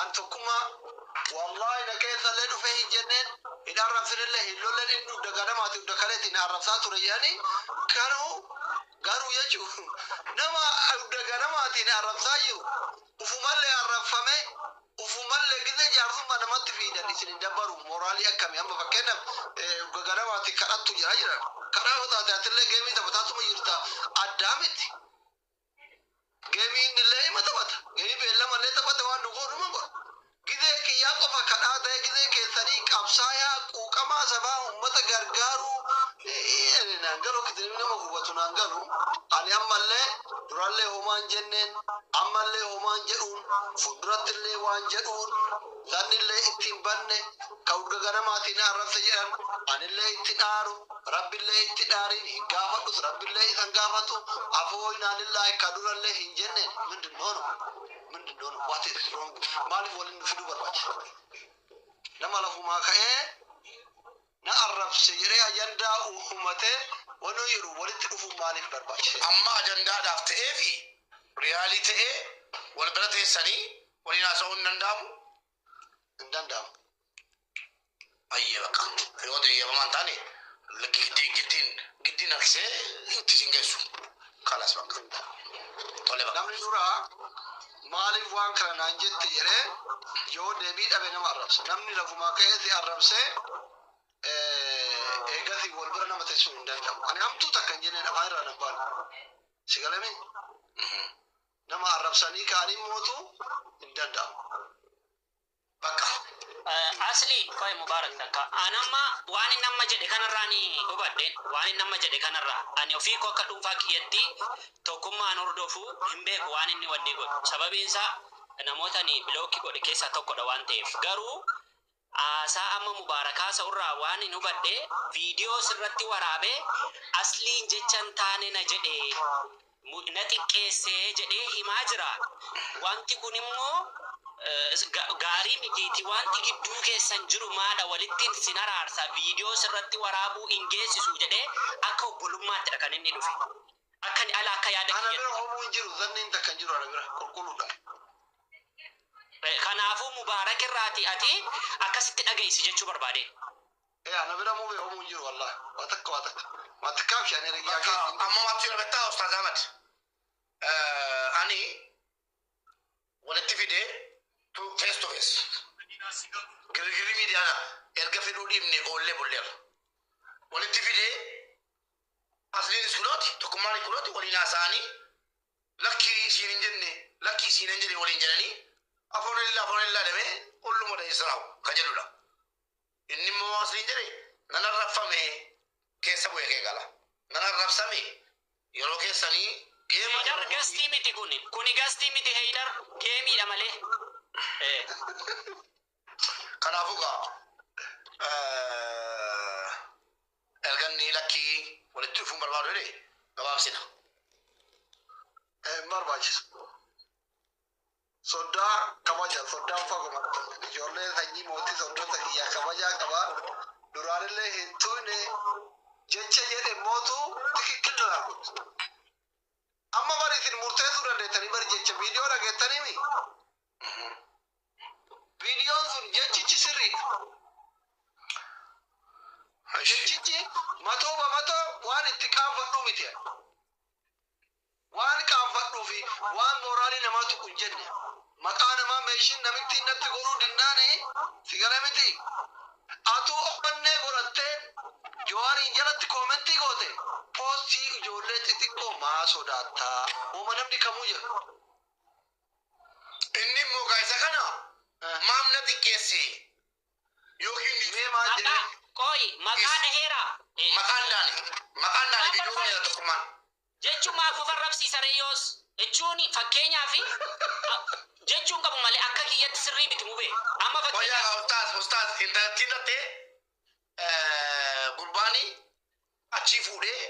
An tokkummaa wallahi na keessallee dhufee hin jenneen hin arrabsinillee hin lollen inni dugda ganamaati dugda kaleetiin na arrabsaa ture jedhanii garuu garuu jechuun nama dugda ganamaatiin arrabsaa jiru ufumallee arrabfame ufumallee gizee jaarsummaa namatti fiidan isin hin dabbaru moraalii akkami amma fakkeenyaaf dugda ganamaatiin kadhattu jedhaa jiran kadhaa yoo taate atillee geemii taphataatuma jirta addaa miti Gemii innillee ima taphata. Gemii beellamallee taphate waan nu goonu hin beeknu. Gizee kiyyaa qofa kadhaa ta'ee gizee keessanii qabsaayaa quuqamaa sabaa uummata gargaaruu eh, naan galu akka itti nama hubatu naan galu. Ani ammallee durallee homaan jenneen ammallee homaan jedhuun fuuldurattillee waan jedhuun Zannillee itti hin banne, ka urga ganamaatii na arrabse jedhan, anillee itti dhaaru, Rabbillee itti dhaariin hin gaafadhus, Rabbillee isa hin gaafatu, afoo innaa lillaahi ka durallee hin jenneen, mindinno no? mindinno no? what is wrong? maaliif waliin nu fiduu barbaachise? nama lafumaa ka'ee, na arrabse jedhee ajandaa uumatee wanoo jedhu walitti dhufuun maaliif barbaachise? Amma ajandaadhaaf ta'eefi riyaalii ta'ee wal bira teessanii waliin haasa'uun hin danda'amu? Hin danda'amu. Ayyee baqa. Yoo ta'e eeyyamamaa hin taane giddiin giddiin giddiin harkisee itti isin geessu. Kalas bakka. Tole bakka. Namni dura maaliif waan kana naan jette jedhee yoo deebii dhabe nama arrabsa. Namni lafumaa ka'ee si arrabsee eh, eegasii wal bira nama teessuu hin danda'amu. Ani hamtuu takka hin jenneen afaan irraa nan baanu. Si galame nama arrabsanii ka'anii mootu hin danda'amu. bakka. Asli qoy mubarak takka an amma waan inni amma jedhe kanarraa ni hubadhe waan inni amma jedhe kanarraa ani ofii koo akka dhuunfaa kiyyatti tokkummaa an hordofu hin beeku waan inni wannii godhu sababiin isaa namoota ani bilookki godhe keessaa tokkodha waan ta'eef garuu haasaa amma mubaarak haasa'u irraa waan hin hubadhe viidiyoo sirratti waraabee asliin jecha hin taane na jedhe na xiqqeesse jedhee himaa jira. Wanti kun immoo gaarii mitiiti. Wanti gidduu keessan jiru maadha walitti sin araarsa viidiyoo sirratti waraabuu hin geessisu jedhee akka obbolummaatti kan inni dhufe. Akka ala akka yaada kiyya. Ana bira homuu hin jiru zanniin takka hin jiru ana bira qulqulluudha. Kanaafuu Mubaarak irraati ati akkasitti dhageessi jechuu barbaadee. Ee ana bira mube homu hin jiru wallahi. Waa takka waa takka. Matti kaabshi ani erga Bakka yaakee siin amma maatti na bettaa Ustaaz Ahmad. Eh, Ani walitti fide tu face to face. Girgirri miidiyaana erga fedhuu dhiibne oollee bulleerra. Walitti fide asliinis kunooti tokkummaan kunooti waliin haasa'anii lakkii isiin hin jenne lakkii isiin hin jenne waliin jedhanii afoonillaa afoonillaa demee olluma dheessaraawu ka jedhudha. Inni immoo waan isiniin jedhe, Nan arrabfame, keessa bu'ee kee gala. Nan arrabsame, yeroo keessanii deema. Heydar gastii miti kuni. Kuni gastii miti Heydar geemiidha malee. Ee. Kanaafuu gaa erga inni lakkii walitti dhufuun barbaadu jedhe gabaabsina. Hin barbaachisu. Soddaa kabaja soddaan faguma dhufan ijoollee sanyii mootii soddoota kiyyaa kabajaa qaba duraanillee hin tuyne jecha jedhe mootu tikikkil naan kuttu amma bari isin murteessuu dandeettanii bari jecha viidiyoo dhageettaniimi viidiyoon sun jechichi sirriidha jechichi matoo bamatoo waan itti qaanfadhuu miti Waan qaanfadhuu fi waan mooraalii namaa tuqu hin jenne. Maqaa namaa meeshiin namittiin natti godhuu dinnaan si gale mitii? Atuu onnee godhattee Jawaariin jalatti koomentii goote poostii ijoollee xixiqqoo maa sodaatta? Woma namni kamuu jedhu. Inni immoo egaa isa kana Eh. maaf na xiqqeesse yookiin dhiise? Mee maal Maqaa jedhee? qoyi maqaa dhaheeraa? Maqaan dhaane. Maqaan dhaane viidiyoo kana jala tokkummaan. Jechu maa qofa arrabsiisa ree yoos? Jechuuni fakkeenyaafi Jechu hin qabu malee akka kiyyatti sirrii miti mube. Amma Qoya fakkeenyaaf. ustaaz ustaaz intalattii tattee gurbaani achii fuudhee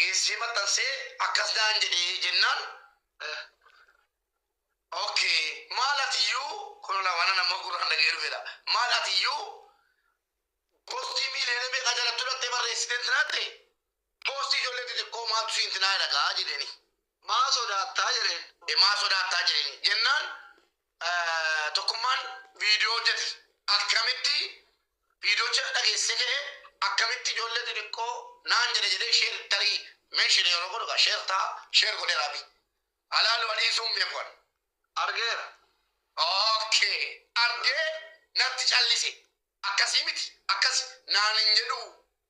geessee maxxansee akkas naan jedhee jennaan okay maal atiyyuu kun lawaana nama gurraan dhagee dhufedha maal atiyyuu postii miiliyoona meeqaa jalattuu dhattee barreessitee tiratte Poostii ijoollee xixiqqoo maaltu siinti naa dhaga'aa jedheenii. Maa sodaattaa jedheen. E maa sodaattaa jedheenii. Jennaan Tokkummaan viidiyoo hojjete. Akkamitti viidiyocha dhageessisee ka'ee akkamitti ijoollee xixiqqoo naan jedhe jedhee share tarii mention yeroo godhu egaa share ta'a. Share godheera Abiy. Haa laalu anii isuu hin beeku ani. Argeera. Okay. Argee natti callise. Akkasii miti. Akkasi naan hin jedhuu.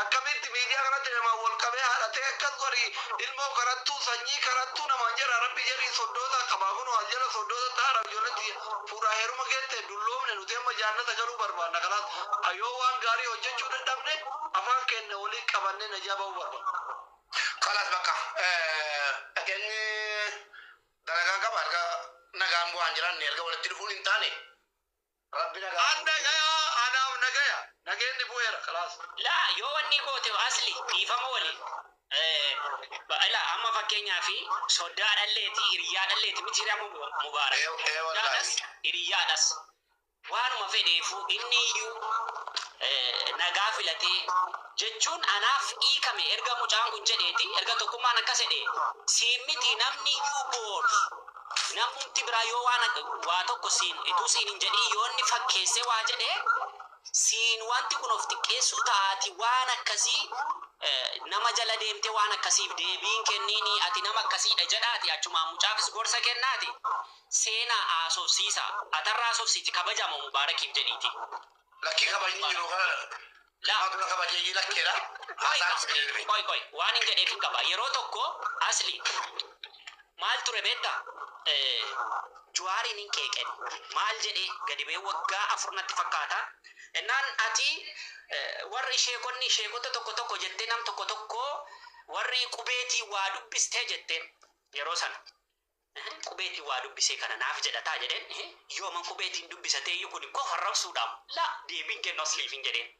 Akkamitti miidiyaa kanatti namaan wal qabee haadha tee akkas godhi ilmoo kadhattuu sanyii kadhattuu namaan jedhaa rabbi jedhii soddootaa qabaa kunoo as jala soddootaa ta'aa rabbi ijoolleen tiyya fuudhaa heeruma geette dulloomne nuti amma jaannata galuu barbaanna kalaas a yoo waan gaarii hojjachuu dadhabne afaan keenna waliin qabannee najaa ba'uu barbaanna kalaas bakka dhageenye dalagaan qaba erga nagaan bu'aan jiraanne erga walitti dhufuun hin taane. Rabbi nagaa An nuuf dhagaya anaaf nagaya nageenni bu'eera kalaas. Laa yoo wannii goote asli dhiifama waliin ila amma fakkeenyaafi soddaa dhalleeti hiriyyaa dhalleeti miti hiriyaa mubaarak Ee ee soddaa das wallaahi. hiriyyaa das waanuma fedheefu inni iyyuu nagaa filatee jechuun anaaf hiikame erga mucaan kun jedheeti erga tokkummaan akkas jedhee siin miti namni iyyuu boor Namumti biraa yoo waan waa tokko siin ituu siin hin jedhiin yoo inni fakkeessee waa jedhe siin wanti kun of xiqqeessuu ta'a ati waan akkasii nama jala deemtee waan akkasiif deebii hin kenniinii ati nama akkasiidha jedhaati achumaan mucaafis gorsa kennaati seenaa haasofsiisaa atarra haasofsiiti kabajaamo mubaarakiif jedhiitii Lakkii kabajni jiru kana Laa. maatu na kabajeeyyii lakkeedha. Haasaan si deebiin. Qoy qoy waan hin jedheef hin qaba. Yeroo tokko asli maal ture beekta? Eh, Juwaariin hin qeeqe. Maal jedhee gadi ba'ee waggaa afur natti fakkaata. Innaan ati eh, warri sheekonni sheekota tokko tokko jettee nam tokko tokko warri qubeetii waa dubbistee jetteen yeroo sana. An qubeetiin waa dubbisee kana naaf jedhataa jedheen, yooman qubeetiin dubbisateeyyuu kuni kofa arrabsuudhaam? Laa! Deebiin kennu asliif hin jedheen.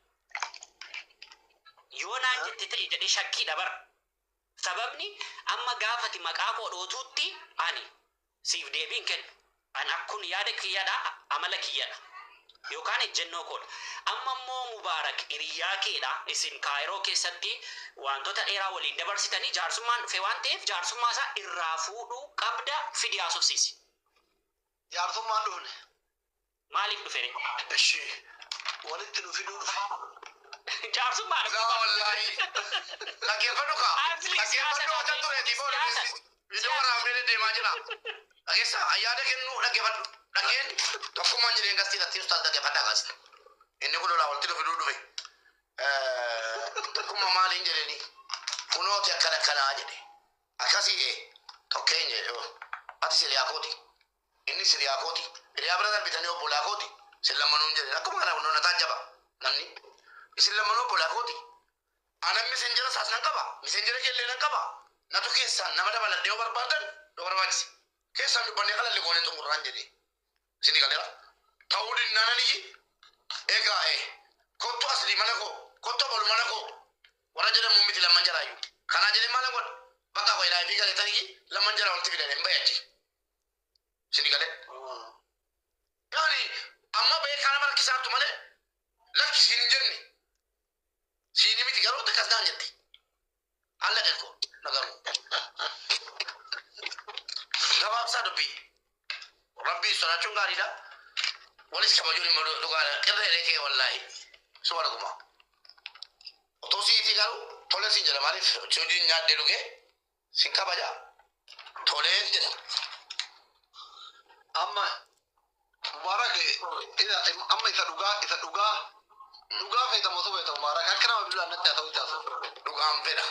Yoo naan jette ta'i jedhee shakkiidha bar. Sababni amma gaafa ati maqaa koo dhootuutti ani siif deebii hin kennu. An akkun yaada kiyyadha, amala kiyyadha. Yookaan ejjennoo koo dha. Amma immoo Mubaarak hiriyyaa kee dha, isin Kaayiroo keessatti waantota dheeraa waliin dabarsitanii, jaarsummaan dhufee waan ta'eef jaarsummaa isaa irraa fuudhuu qabda, fidi haasofsiisi. Jaarsummaan dhufne. Maaliif dhufe ree? Eshi, walitti nu fiduu dhufe. Jaarsummaa dha. Laa wallaahii. Dhaggeeffadhu kaa. Asli siyaasa Dhaggeeffadhu dha hojjattu ree. reetii booda Siyaasa. keessi. Viidiyoo waraabnee deddeemaa jira. Dhageessaa ayyaada kennuu dhaggeeffadhu. Dhageen tokkummaan jireen gastii irratti ustaas dhaggeeffadhaa gaas. Inni kun lolaa walitti nu fiduu dhufe. Tokkumma maaliin jedheni kunooti akkana akkanaa jedhe. Akkasii ee tokkeen jedhe oo. Ati siriyaa kooti. Inni siriyaa kooti. Hiriyaa bira darbitanii obbolaa kooti. Isin lammanuun jedhe. Akkuma kana kunoon ataa jaba namni. Isin lammanuu obbolaa kooti. Anan messenger isaas nan qaba. Messenger kee illee nan qaba. Natu keessaan nama dabaladhe yoo barbaaddan yoo barbaachise. Keessaan dubbannee qalalli goonee xumurraan jedhee. Isinii galeera. Ta'uu dinnaan aniyyi egaa ee kottu asli mana koo kottu abalu mana koo warra jedhamu miti lamman jaraayyu. Kanaa jedhee maalan godha? Bakka koo ilaa ifii galee taniyyi lamman jaraa walitti fidadhe hin bahe achi. Isinii galee. Yaani amma bahee kaa nama rakkisaartu malee lakki siin hin jenne. Siini miti garuu xiqqas naan jette. Alla qekkoo na garuu. Gabaabsaa dubbii. Rabbii sodaachuun gaariidha. Walis kabajuun immoo dhugaadha. Qirree reekee wallaahi. Suba dhuguma. Otoo siitii garuu tole siin jedha maaliif hojiin nyaadhee dhugee Sin kabaja. Toleen jedha. Amma Mubaarak ila- amma isa dhugaa isa dhugaa dhugaa feeta motu feeta Mubaarak akka nama bilbilaan natti haa ta'u itti haasa'u. Dhugaan fedha.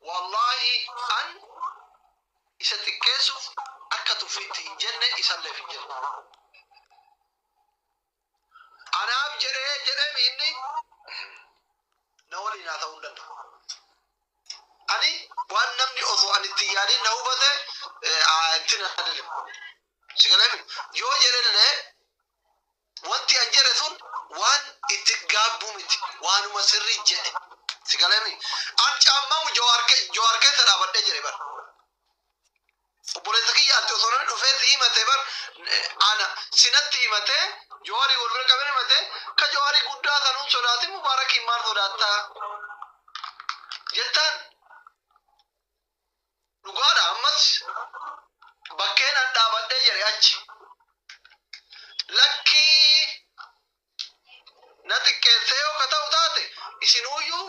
Wallaahi an isa xiqqeessuuf akka tuffiitti hin jenne isalleef hin jenne. Anaaf jedhee jedheem inni na waliin haa ta'uu hin danda'u. Ani waan namni osoo ani itti yaadin na hubate itti na deemu. Si galeemi yoo jedhellee wanti an jedhe sun waan itti gaabbu miti waanuma sirrii jedhe. Si galeemi an caammamu jawaar keessa dhaabadhee jedhe bara. Obboleessa kiyya ati osoo namni dhufee si himate bar ana sinatti himate jawaarii wal bira qabee himate ka jawaarii guddaa sanuun sodaatin mubaarakiin maal sodaatta jettaan dhugaadha ammas bakkeen an dhaabadhee jedhe achi lakkii na xiqqeessee yoo ka ta'u taate isinuuyyuu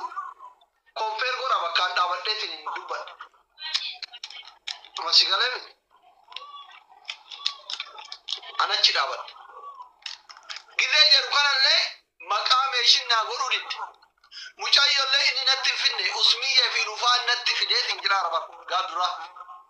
kompeer godha bakkaan dhaabadheetiin hin dubbadha. Amma si galee miti. An achi dhaabadha. Gizee jedhu kanallee maqaa meeshin naa godhuu didde. Mucayyollee inni natti hin fidne usmiyyee fi lufaan natti fideetiin jira araba gaaf duraa.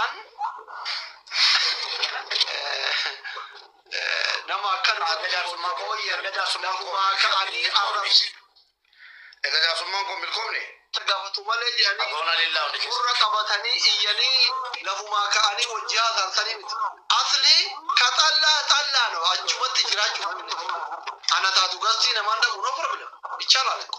An nama akkan erga jaarsummaa koo erga jaarsummaa koo waa ka'anii arrabsu. Erga jaarsummaan koo milkoomne. Gaafatu malee jedhanii gurra qabatanii iyyanii lafumaa ka'anii wajji haasaan sanii miti. Asli ka xallaa xallaa no achumatti jiraachuu namni tokko. Ana taatu gastii namaan dhabu no problem. Ichaalaa lakko.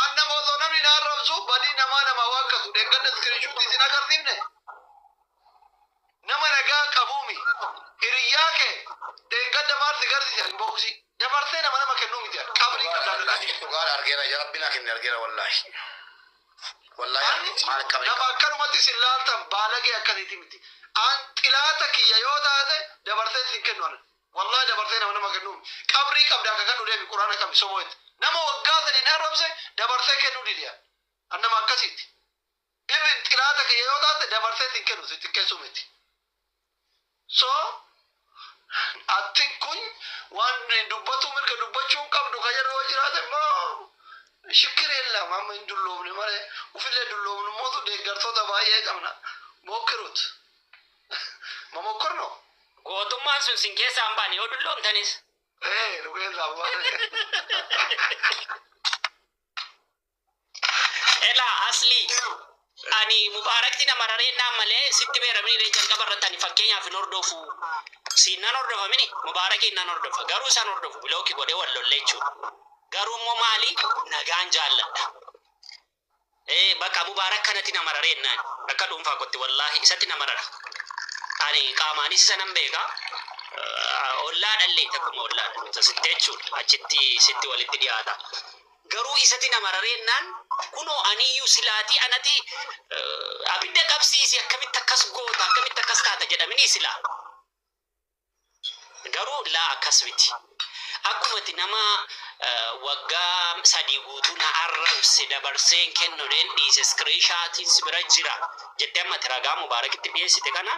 An nama osoo namni na arrabsu badii namaa namaa waakkatu dheengadda iskiriinshuutii isin agarsiifne nama nagaa qabuumi hiriyyaa kee dheengadda maal si garsiise inboksii dabarsee nama nama kennuu miti an qabrii qabdaadadhaa jedhe dhugaa argeera yaa rabbi naa kenne argeera wallaahi wallaahi Ani argeera maal qabri nama akkanumatti isin laaltan baalagee akkasiiti miti an xilaata kiyya yoo taate dabarsee isin kennu an Wallahi dabartee nama nama kennu mi qabrii qabdaa kakadhu demi qurana qabi sobo et nama waggaa sadin arrabse dabarsee kennu dide an an nama akkasiti even xilaata kiyya yoo taate dabarsee sin kennu si xiqqessu miti so attin kun waan dubbatu mirga dubbachuu hin qabdu ka jedhu yoo jiraate immoo shikkiri illa amma hin dulloomne malee ufillee dulloomnu mootu deeggartoota baay'ee qabna mokkirut Momokkor no. Gootummaan sun sin keessaa hin baane yoo dulloomtanis. Ee nu keessaa hin baane. Elaa Aslii ani mubaarakti na mararee naan malee sitti beeramni illee jalqaba irratti ani fakkeenyaaf hin hordofu siin nan hordofa mini mubaarakiin nan hordofa garuu isan hordofu bilooki godhee wal lollee jechuudha garuu immoo maali nagaan jaalladha Ee baqa mubarak kanati na marare ennaan akka dhuunfaa kotti wallahi isatti na marara ani qaamaanis isa nan beeka ollaadhallee takkuma ollaan nuuta sitti jechuun achitti sitti walitti dhiyaata garuu isati na marare ennaan kunoo aniyyuu silaatii anati abidda qabsiisi akkamitti akkas goota akkamitti akkas taata jedhaminii silaa Garuu laa akkas miti. Akkuma ati nama waggaa sadii guutuu na arrabse dabarsee hin kennu jedheen dhiise iskiriinshaatiin si bira jira jettee amma ati ragaa Mubaarakitti dhiyeessite kana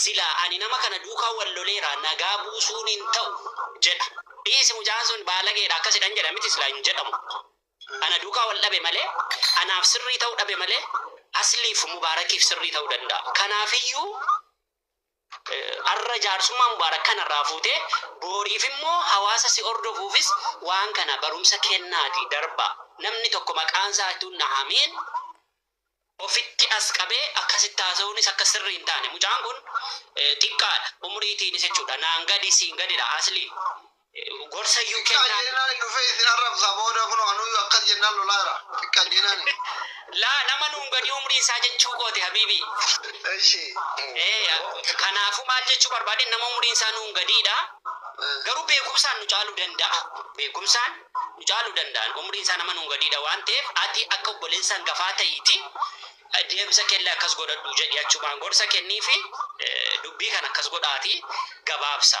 silaa ani nama kana duukaa wal loleera nagaa buusuun hin ta'u jedha. Dhiisi mucaan sun baalageedha akkasidhan jedha miti silaa hin jedhamu. Ana duukaa wal dhabe malee anaaf sirrii ta'uu dhabe malee Asliif Mubaarakiif sirrii ta'uu danda'a. Kanaafiyyuu. Har'a jaarsummaa Mubaarak kana irraa fuutee booriif immoo hawaasa si hordofuufis waan kana barumsa kennaatii darbaa. Namni tokko maqaan isaa utuu hin dhahamiin ofitti as qabee akkasitti haasa'uunis akka sirrii hin taane. Mucaan kun xiqqaadha umriitiinis jechuudha. Naan gadi siin gadidha Aslii. gorsayyuu Xiqqaa kennaa. jennaan dhufee isin arrabsa booda kunoo anuuyyu akkas jennaan lolaa jira. Xiqqaa jennaan. Laa nama nuun gadii umrii isaa jechuu kooti habiibii. Eshi. Ee, kanaafuu maal jechuu barbaade nama umriin isaa nuun gadiidha. Garuu beekumsaan nu caaluu danda'a. Beekumsaan nu caaluu danda'an umriin isaa nama nuun gadiidha waan ta'eef ati akka obboleessa hangafaa ta'iiti deemsa keellee akkas godhadhu jedhi achumaan gorsa kenniifi dubbii kana akkas godhaati gabaabsa.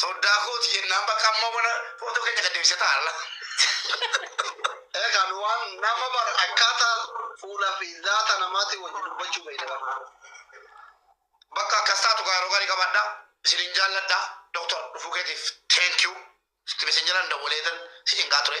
Soddaa kooti jennaan bakka amma wana footoo keenya gad deebisee taa'alla. Egaa nu waan nama bar akkaataa fuula fi zaata namaatiin wajjin dubbachuu beekna bar. Bakka akkas taatu kaa yeroo gaarii qabaadha. Isiniin jaalladha. Doktor dhufuu keetiif thank you. Sitti mesenjeran dawwaleetan si cinqaa ture.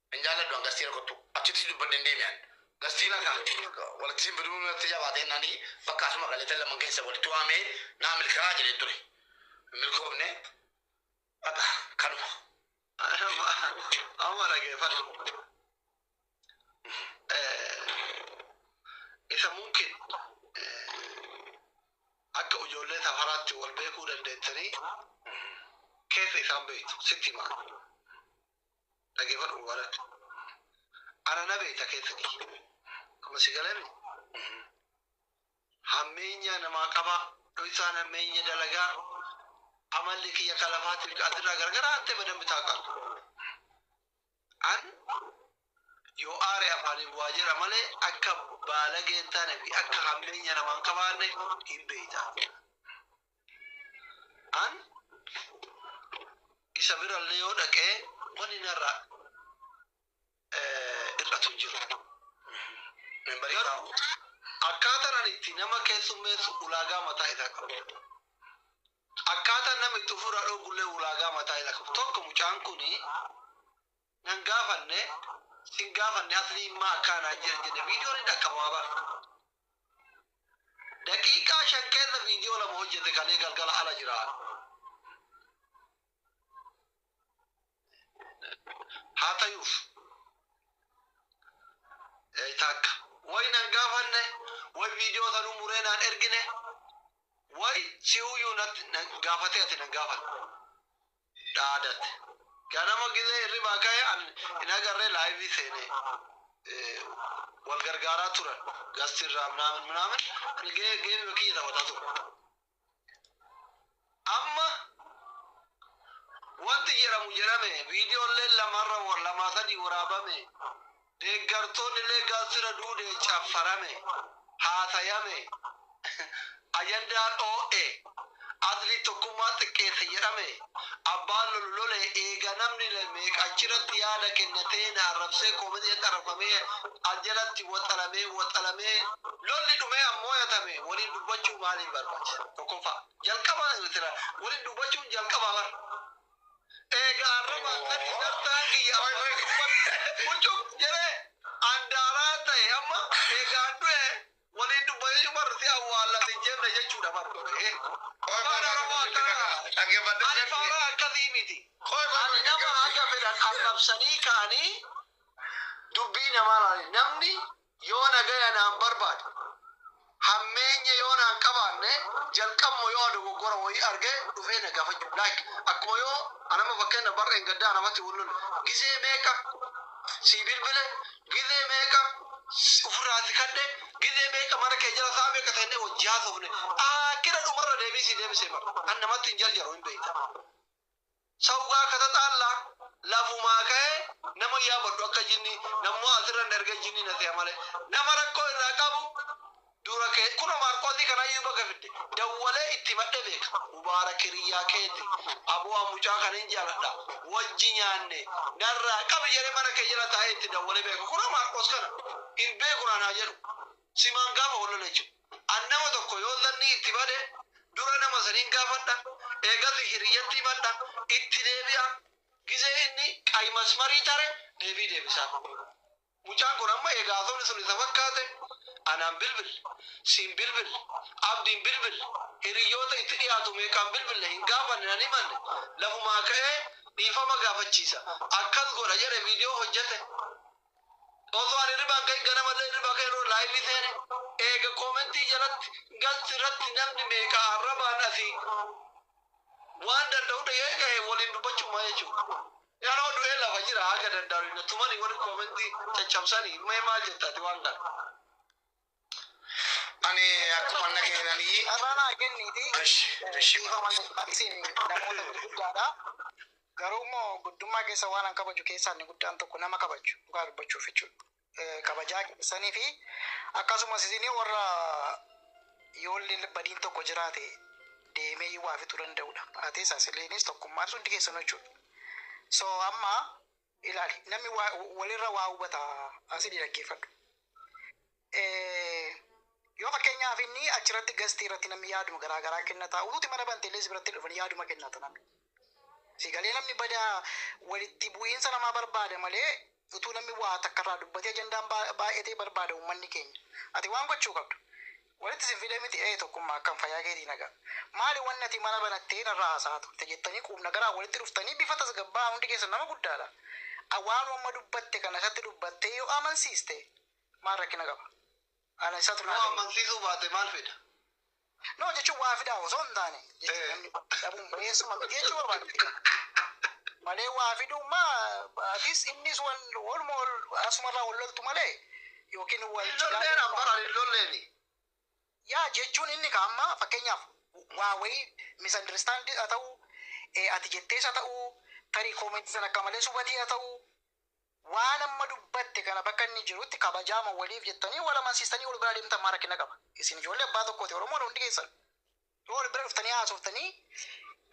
Hin jaalladhu an gastiina kottu achitti dubbadhe hin deemi an gastiina kan walitti sin fiduu natti jabaatee nani bakka asuma galeetan laman keessa walitti waamee naa milkaa'aa jedheen ture hin milkoofne baqa kanuma amma dhageeffadhu isa mumkin akka ijoollee safaraatti wal beekuu dandeettanii keessa isaan beektu sitti himaa dhagefadhu warat ana na beekta keessatti amma si galame hammeenyaa namaa qabaa dhoysaan hammeenya dalagaa amalli kiyya kalafaatiin ka asirraa gargaraa atte badambi taaqalu an yoo aare afaaniin waa jira malee akka baalagee hin taane fi akka hammeenya namaan qabaanne hin beeyta An isa birallee yoo dhaqe wanni narraa hir'atu hin jiru. Garuu akkaataan ani itti nama keessummeessu ulaagaa mataa isaa qaba. Akkaataan namni itti ofirraa dhoowwullee ulaagaa mataa isaa qaba. Tokko mucaan kuni nan gaafanne sin gaafanne aslii immaa akkaa naan jedhan jedhe viidiyoon hin dhaqqabama bar daqiiqaa shan keessa viidiyoo lama hojjete kalee galgala ala jira haa tayuuf ee takka way nan gaafanne way viidiyoo sanuu muree naan ergine way si'uyyuu natti- nan gaafatee ati nan gaafanne dhaadate. Ganama gize hirribaa kahe an hin agarre live seene wal gargaaraa turan gast irraa minaamin minaamin an ge geemima kiyya taphataa ture. Amma wanti jedhamu jedhame video illee lama irra lamaa sadii waraabame Deeggartoonnilee galtira duudee caffarame, haasayame, ajandaan oo'e, adliin tokkummaa xiqqeesse jedhame, abbaan lolu lole, eega namni meeqa achiratti yaada kennatee, na arrabsee, comment irratti arrabfamee, as jalatti waxalamee, waxalamee, lolli dhumee an mooyatame, waliin dubbachuu maaliif barbaachise? Tokkoffaa. Jalqaba waliin dubbachuun jalqabaa bar. Eegaa arrabaa kani dartaan kiyya ammas dubbadhu quccup jedhee an daaraa tahe amma eegaan du'e waliin dubbatechu bar si awwaallas hin jenne jechuudha bar ee afaan arabaa tana ani faaraa akkasii miti ani nama haga fedhan arrabsanii ka'anii dubbii namaa laalanii namni Yoo nagaya naan barbaade, hammeenya yoo naan qabaanne, jalqabuma yoo dogoggora wayii arge dhufee na gaafachuu like akkuma yoo an amma fakkeenyaaf bar dheengaddaa nama tti wal lolle gizee meeqa sii bilbile gizee meeqa ufirraa si kadhe gizee meeqa mana kee jala sa'a meeqa teennee wajji haasofne aakkira dhumarra deebii sii deebisee bar an namatti hin jarjaru hin beekta. Sa ugaa katataalla lafumaa ka'ee nama yaabadhu akka jinni nammoo asirra hin erga jinni na se'a malee nama rakkoo irraa qabu dura kee kuno maarqoosii kanayyuu baga fidde dawwalee itti himadhe beeka mubaarak hiriyyaa keeti aboo an mucaa kana hin jaaladha wajji nyaanne narraa qabi jedhee mana kee jala taa'ee itti dawwalee beeka kuno maarqoos kana hin beeku naan haa jedhu simaan gaafa wal lola jechuudha. An nama tokko yoo zannii itti bade, dura nama saniin gaafadha, eegas hiriyyatti himadha, itti deebi'a, gizee inni qayi masmarii tare deebii deebisaaf. Mucaan kun amma eega haasofni sun isa fakkaate, anaan bilbille, siin bilbille, Abdiin bilbille, hiriyyoota itti dhiyaatu meeqaan bilbille hin gaafanne nan himanne, lafumaa ka'ee dhiifama gaafachiisa, akkas godha jedhe viidiyoo hojjete. Osoo ani hirribaa hin ka'in ganamallee hirribaa ka'e yeroo laayivii seene eega koomentii jalatti galti irratti namni meeqa arrabaan asii waan danda'u dhagee ka'e waliin dubbachuumaa jechuudha. Anoo du'ee lafa jira haga danda'u na tumanii warri koomentii caccabsanii mee maal jetta ati waan kana. Ani akkuma nageenanii. Irraa naa kenniiti. Eshi, eshi. Dhiifama isin namoota gurguddaadha. Garuu immoo guddummaa keessa waan an kabaju keessaa inni guddaan tokko nama kabaju dhugaa dubbachuuf jechuudha. Eh, Kabajaa keessanii fi akkasumas isin warra yoolli badiin tokko jiraate deemee waa fixuu danda'udha. Atis asiliinis tokkummaan hundi keessanuu jechuudha. So amma ilaali namni waa- walirra waa hubata asini dhaggeeffadhu Eh, yoo fakkeenyaaf inni achirratti gastii irratti namni yaaduma garaa garaa kennata utuuti mana banteellee si biratti dhufan yaaduma kennata namni si galee namni bada walitti bu'iinsa namaa barbaada malee utuu namni waa takkarraa dubbatee ajandaan baa- baay'atee barbaada uummanni keenya ati waan gochuu qabdu Walitti sin fidee miti ee tokkummaa akkam fayyaa keetii nagaa maali wanni ati mana banattee narraa haasa'aa turte jettanii quubnagaraan walitti dhuftanii bifa tasgabbaa'aan hundi keessan nama guddaadha a waanuma amma dubbatte kana isatti dubbattee yoo amansiiste maal rakkina qaba ana isatu naa Yoo ta'e amansiisuu baate maal fida? no jechuun waa fidaa osoo hin taane jechuun namni dhabuun bayeessuma miti jechuu barbaadde malee waa fiduummaa atis innis wal waluma wal asumarraa wal loltu malee yookiin wal Hin jibaa lolleen amma kan hin lolleeni. Yaa jechuun inni ka amma fakkeenyaaf waa wayii misunderstand haa ta'uu, eh, ati jettees haa ta'uu, tarii comment sana akka malees hubatee haa ta'uu, waan amma dubbatte kana bakka inni jirutti kabajaama waliif jettanii wal amansiistanii ol biraa deemtan maa rakkina qaba? Isin ijoollee abbaa tokkooti Oromoodha hundi keessan. Yoo wal bira dhuftanii haasoftanii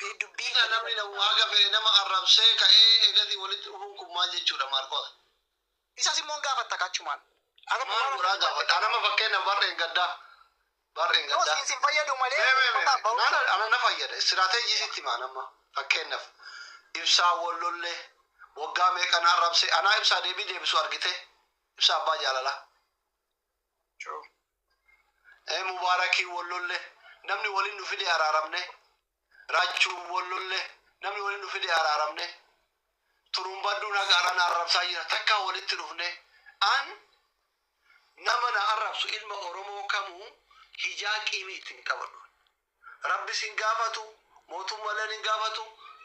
eh, dubbii Isa namni na- waaqa fedhe nama arrabsee ka'ee eegasii walitti dhufuun kun maal jechuudha Maarqos? isas immoo hin gaafatta kaachumaan. Akka Maal dhugaa godhaa gaafadha? Nama fakkeenya barreen gaddaa. Barreen Yoo gaddaa. siin sin fayyadu malee Mee, mee, mee, uummataa mee. ba'uu Nana- ana na fayyada. Istiraateejii sitti himaan amma. Fakkeenyaaf ibsaa wal lollee waggaa meeqa na arrabse anaa ibsaa deebii deebisu argite ibsaa abbaa jaalalaa. True. Ee Mubarakii wol lolle namni wolin nu fide araaramne Rachuu wol lolle namni wolin nu fide araaramne Turumbadduun haga arra na arrabsaa jira takkaa wolitti dhufne an nama na arrabsu ilma Oromoo kamuu hijaa qiimii itti hin qabadhu Rabbi sin gaafatu mootummalleen hin gaafatu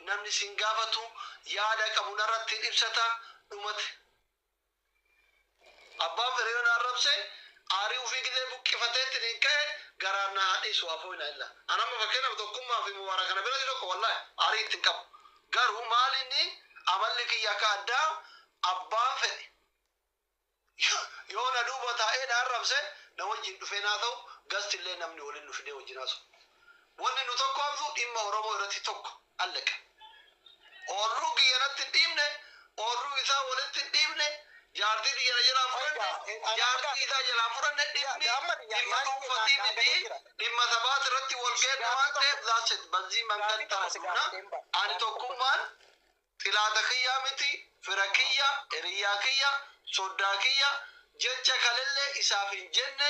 namni sin gaafatu yaada qabu narratti hin ibsata dhumate Abbaan Fireeyoon arrabse aarii ufii gizee buqqifateettiniin ka'e garaan na haa dhiisu afooy na illa. An amma fakkeenyaaf Tokkummaa fi Mubaaraka na biratti tokko wallaahi aarii itti hin qabu. Garuu maal inni amalli kiyya akka addaa abbaan fedhe yoo na duuba taa'ee na arrabse na wajjiin dhufeen haa ta'u gasti illee namni waliin nu fidee wajjiin haasa'u. Wanni nu tokkoomsu dhimma Oromoo irratti tokko. Alleqa. Oorruu kiyya natti hin dhiifne, oorruu isaa walitti hin dhiifne, jaartii tiyya na jalaa hin fudhanne, jaartii isaa jalaa hin fudhanne, dhimmi dhimma dhuunfatii mitii, dhimma sabaati irratti wal geenne waan ta'eef that's it bazzii mangad taradhuuna, ani tokkummaan xilaata kiyyaa miti, fira kiyya, hiriyyaa kiyya, soddaa kiyya, jecha kalellee isaaf hin jenne,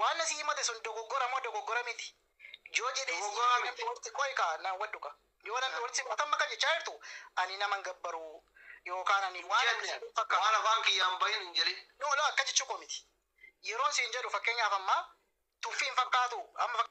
Waan na si himate sun dogoggora moo dogoggora miti? Yoo jedhee si Dogoggora himate nan miti. dhowwatti qoy kaa naan wadhu kaa. Yoo nan dhowwatti si qotamma kan jechaa jirtu ani nama hin gabbaru yookaan ani Hin waan jenne. akkasii hin fakkaatu. Waan afaan kiyyaa hin bahin hin jedhin. No no akka jechuu koo miti. Yeroon siin jedhu fakkeenyaaf amma tuffii hin fakkaatu amma fak-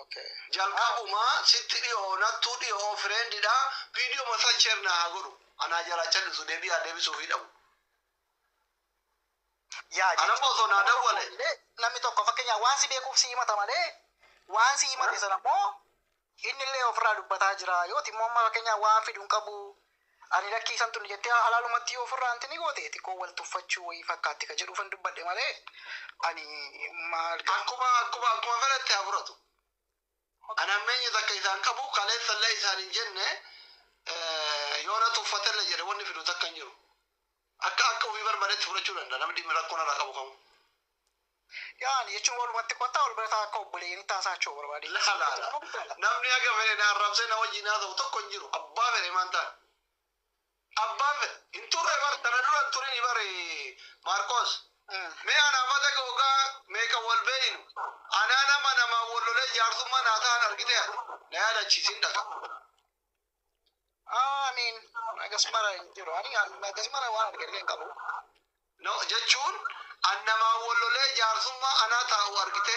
Okay. Jalqabumaa sitti dhiyoo nattuu dhiyoo friend dha video masan share na haa godhu anaa jalaa callisu deebii haa deebisuu fi dhabu. Yaa Ana jechuun boso naa nama tokko dawwale. illee namni tokko fakkeenyaaf waan si beekuuf si himata malee waan si himate sana immoo inni illee ofirraa dubbataa jira yooti immoo amma fakkeenyaaf waan fidu hin qabu Ani lakkii isan tuni jettee halaalumatti yoo ofirraa anti ni goote xiqqoo wal tuffachuu wayii fakkaatti ka jedhuufan dubbadhe malee ani maal gaa. Akkuma akkuma akkuma fedhetti haa furatu. Ani hammeenyi takka isa hin qabu kaleessa illee isaan hin jenne yoo na tuffate illee jedhe wanni fidu takka hin jiru. Akka akka ofii barbadetti fudhachuu danda'a namni dhimmi rakkoo narraa qabu kamuu. Yaani jechuun walumatti kottaa wal bira taa akka obboleeyyan taa isaa choo barbaadee. Laa laa laa namni haga fedhe na arrabsee na wajjiin haasa'u tokko hin jiru abbaa fedhe maan taan abbaan fedhe hin turre bar tana dura hin turini bar Maarqoos mee anaaf adaga wogaa meeqa wal beeynu anaa nama namaan wal lolee jaarsummaa naa tahan argitee ati na yaadachiisi hin dhagahu. Ah, I mean, nagas mara hin jiru. Ani an- nagas mara waan argillee hin qabu. No, jechuun an namaa wallolee jaarsummaa anaa taa'u argite.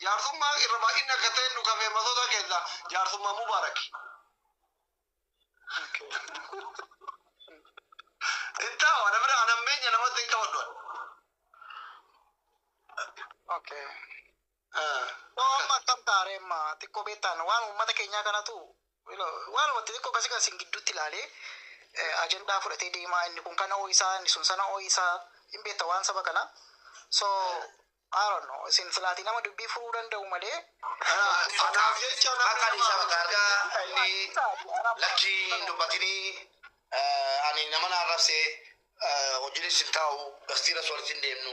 Jaarsummaa irra baay'inni akka ta'e nu kafee masoota keessaa jaarsummaa mubaaraki. Okay. Hin taa'u, ana bira an hammeenya namatti hin qabadhu. Okay. Dhoo amma akkam ta'a ree amma xiqqoo beektaan waan uummata keenyaa kanatu waan wanti xiqqoo kasi kan sin gidduutti ilaalee ajandaa fudhatee deemaa inni kun kana ooyisaa inni sun sana ooyisaa hin beekta waan saba kana so I don't know isin silaatii nama dubbii furuu danda'u malee Kanaaf jecha Maqaan isaa Mataargaa inni lakkii hin dubbatinii ani nama na arrabse hojiinis hin taa'u gastiiras walitti hin deemnu.